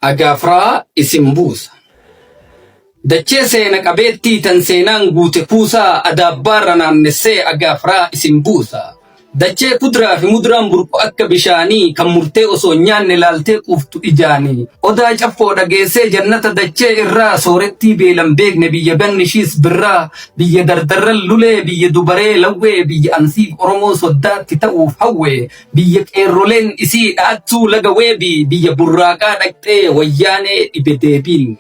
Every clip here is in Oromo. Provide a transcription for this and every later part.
Agaafraa isin buusa. Dachee seena qabeettii tan seenaan guute kuusaa adaabbaarra naannessee agaafraa isin buusa. Dachee kudraa fi muduraan burqu akka bishaanii kan murtee osoo hin nyaanne laaltee quuftu ijaanii. Odaa caffoo dhageessee jannata dachee irraa soorettii beelan beekne biyya ganni ishiis birraa biyya dardarran lulee biyya dubaree lawwee biyya ansiif Oromoo soddaatti ta'uuf hawwee Biyya qeerroleen isii dhaattuu laga weebii biyya burraaqaa dhaqxee wayyaanee dhibe deebiin.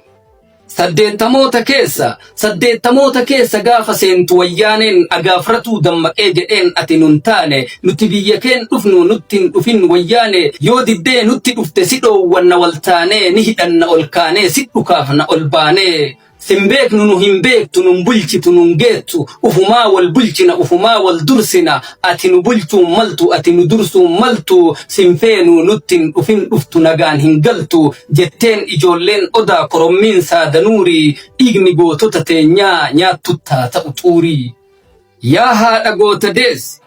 Saddeettamoota keessa saddeettamoota keessa gaafa seentu wayyaaneen agaafratuu dammaqee jedheen ati nun taane nuti biyya keen dhufnu nutti hin dhufin wayyaane yoo diddee nutti dhufte si dhoowwanna wal taanee ni hidhanna ol kaanee si dhukaafna ol baanee Sin beeknu nu hin beektu nun bulchitu nun geettu ufumaa wal bulchina ufumaa wal dursina ati nu bulchuun maltu ati nu dursuun maltu sin feenu nutti hin dhufin dhuftu nagaan hin galtu jetteen ijoolleen odaa korommiin saada nuurii dhiigni gootota teenyaa nyaattutti haa ta'u xuurii. Yaa haadha goota deesse!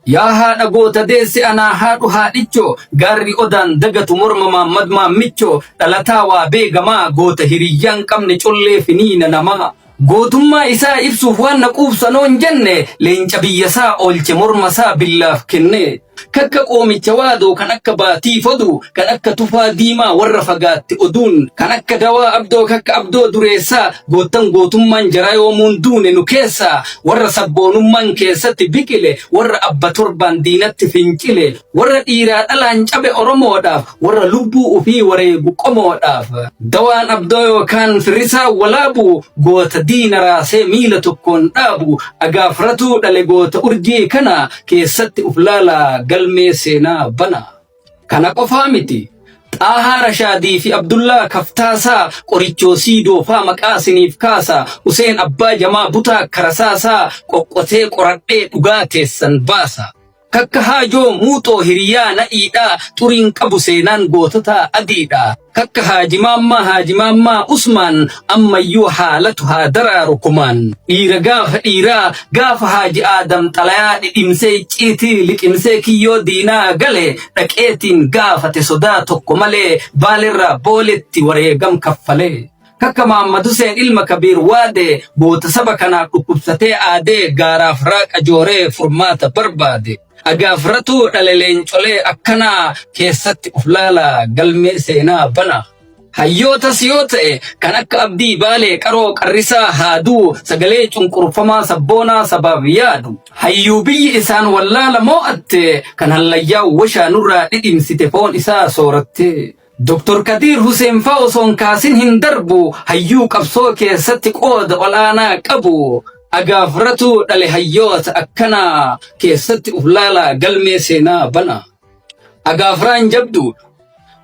Yaa haadha goota deesse anaa haadhu haadhichoo Gaarri odaan dagatu morma Maammad Maammichoo Dhalataa waa beekamaa goota hiriyyaan qabne collee finiina namaa Gootummaa isaa ibsuuf waan na quubsanoon jenne Leenca biyyasaa oolche mormasaa billaaf kennee Kakka qoomicha waadoo kan akka baatii foduu kan akka tufaa diimaa warra fagaatte oduun kan akka dawaa abdoo kakka abdoo dureessaa goottan gootummaan jaraa yoomuun duune nu keessaa warra sabboonummaan keessatti biqile warra abba torbaan diinatti fincile warra dhiiraa dhalaan cabe oromoodhaaf warra lubbuu ufii wareegu qomoodhaaf dawaan abdoo yookaan firrisaa walaabu goota diina raasee miila tokkoon dhaabu agaafratuu dhale goota urjii kana keessatti uf laalaa galmee seenaa banaa. Kana qofaa miti. Xaahaa Rashaadii fi Abdullaa Kaftaasaa qorichoo siidoo faa maqaa siniif kaasa Useen Abbaa Jamaa Butaa Karasaasaa qoqqotee qoradhee dhugaa teessan baasa. Kakka Haajoo Muuxoo hiriyaa nadhiidhaa xuriin qabu seenaan goototaa adiidhaa. Takka Haaji Maammaa Haaji Maammaa Usmaan ammayyuu haalatu haa daraaru kumaan. Dhiira gaafa dhiiraa gaafa Haaji Aadam xalayaa dhidhimsee icciitii liqimsee kiyyoo diinaa gale dhaqeetiin gaafate sodaa tokko malee Baalerraa Booletti wareegam kaffalee. Takka Maamma Duseen ilma Kabiir Waadee goota saba kanaaf dhukkubsatee aadee gaaraaf raaqa jooree furmaata barbaade. Agaafratuu dhale leencolee akkanaa keessatti of laalaa galmee seenaa banaa. Hayyootas yoo ta'e kan akka abdii baalee qaroo qarrisaa haaduu sagalee cunqurfamaa sabboonaa sabaaf yaadu. Hayyuu biyyi isaan wallaala moo'atte kan hallayyaa washaa nurraa dhidhimsite foon isaa soorattee. Doktor Kadiir Huseen faa osoo hin kaasin hin darbu hayyuu qabsoo keessatti qooda ol'aanaa qabu agaaf ratuu dhale hayyoota akkanaa keessatti uf laalaa galmee seenaa bana. Agaafraan jabduudha.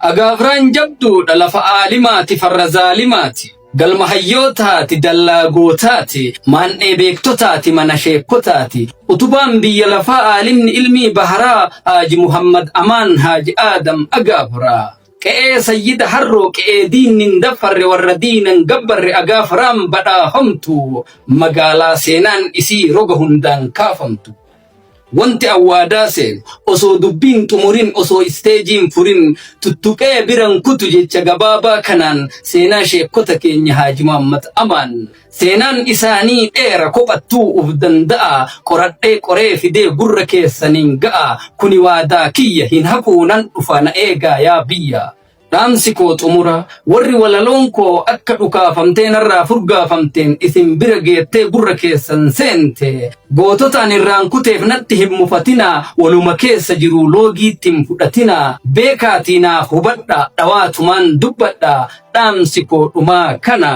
Agaafraan jabduudha lafa aalimaati farra zaalimaati. Galma hayyootaati, dallaa gootaati, maandhee beektotaati, mana sheekkotaati. Utubaan biyya lafaa aalimni ilmii baharaa Haaji Muhammad Amaan Haaji Aadam Agaafaraa. Qe'ee Sayyida Harroo qe'ee diinni hin daffarre warra diina hin gabbarre Agaafaraan badhaafamtu magaalaa seenaan isii roga hundaan kaafamtu. Wanti an waadaa seenu osoo dubbii hin xumurin osoo isteejii hin furin tuttuqee bira hin kutu jecha gabaabaa kanaan seenaa sheekkota keenya Haaji Muhammad Amaan seenaan isaanii dheera kophattuu uf danda'a qoradhee qoree fidee gurra keessaniin ga'a kuni waadaa kiyya hin hafuu nan dhufa na eegaa yaa biyya Dhaamsi koo xumura warri walaloon koo akka dhukaafamtee narraa furgaafamteen isin bira geettee gurra keessan seente goototaan irraan kuteef natti hin mufatinaa waluma keessa jiruu loogiitti hin fudhatinaa beekaatii naa hubadha dhawaatumaan dubbadha dhaamsi koo dhumaa kana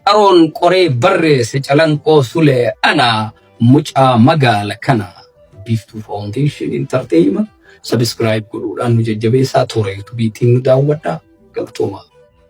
qaroon qoree barreesse calanqoo sulee ana. Mucaa magaala kana Biiftuu Foundation Entertainment subscribe godhuudhaan nu jajjabeessaa toora YouTube ittiin nu daawwadhaa. Galtoomaa.